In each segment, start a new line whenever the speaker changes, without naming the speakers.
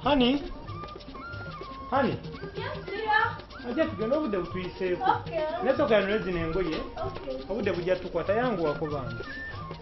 Honey? Honey?
Yes, dear. Ajja tugenda obudde
butuyiseeko. Okay. Naye sooka
yanule zino
engoye. Okay. Obudde bujja
tukwata
yangu wakubanza.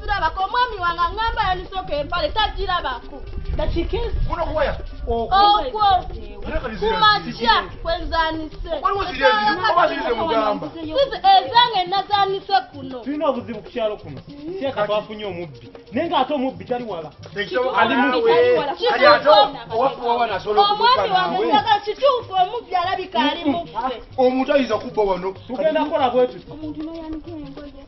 Tulabako
omwami
wange angamba yanisoka empale tagirabako. Okwo kumakya kwenzanise. Sizi ezange nazanise kuno. Tulina obuzibu ku kyalo
kuno. Seeka twafunye omubbi. Naye ng'ate omubbi tali wala. Omwami wange
saga kituufu omubbi alabika ali muffe. Omuntu ayinza kubba
wano. Tugenda kola
bwetuti.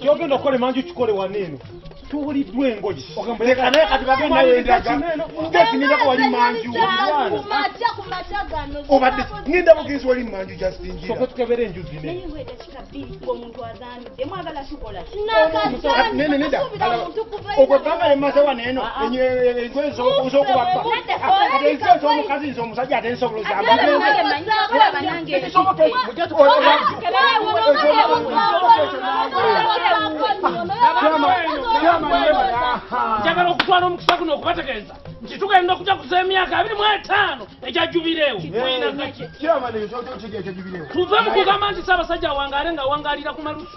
kyogenda okukola emanju kikole wano eno tuwuliddwa engoyi
obadde
ngenda
bugenzi wali manju jasinjiratukebera enju
zineokwebanga
emaze wano eno engoyi zokubaa omukazi nze omusajja ate nsoboloza
njagala okutwala omukisa guno okubategeeza nti tugenda okujaguza emyaka abiri mu etaano egya jubireewo tuve mu kugamba nti saabasajja awangaale ng'awangaalira ku malusu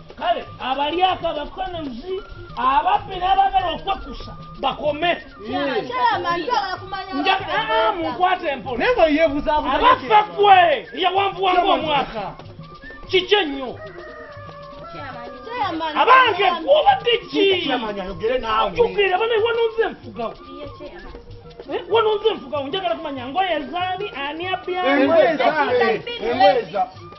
kale abalyako abakonozi ababbi n'abagala okwekusa bakome munkwata empolaabaffe
gwe
eyawanvuwangu omwaka kiki ennyo abange gwobadde ki
jukira bana wanonze
enfugawo Eh, wano nze nfuga njagala kumanya ngoye zaani ani abyangweza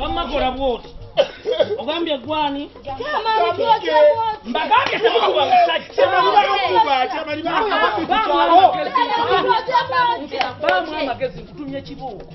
wammakola
bwoti ogambye gwani
mbagambye
temukuba musajja amagezi nkutumye
kibuuko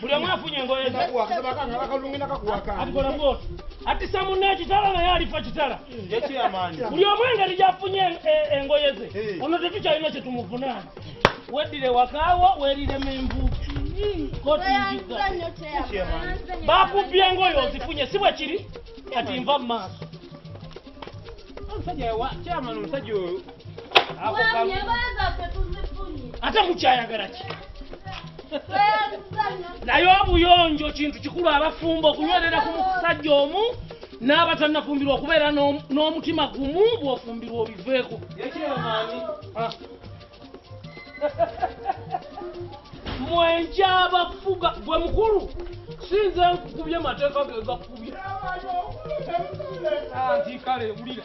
buli omu afunye engoye zeatikola bwoti atisa munne ekitala naye alifa kitala buli omu engeri gyafunye e- engoye ze ono tetukyalina kyetumuvunaana weddire wakaawo werire menvu bakubbye engoye ozifunye si bwe kiri kati nva mu maaso omusajja wa
chairman omusajja oyo ako Mwami, kamu- engoye zaffe
tuzifunye. ate mukyayagala ki Tweyazizanya. naye obuyonjo kintu kikulu abafumbo okunywerera ku musajja omu n'abatannafumbirwa okubeera n'om- n'omutima gumu bw'ofumbirwa obiveeko Ye chairman, ah, mwenja abafuga gwe mukulu sinze nkukubye mateeka gegakubye anti kale wulira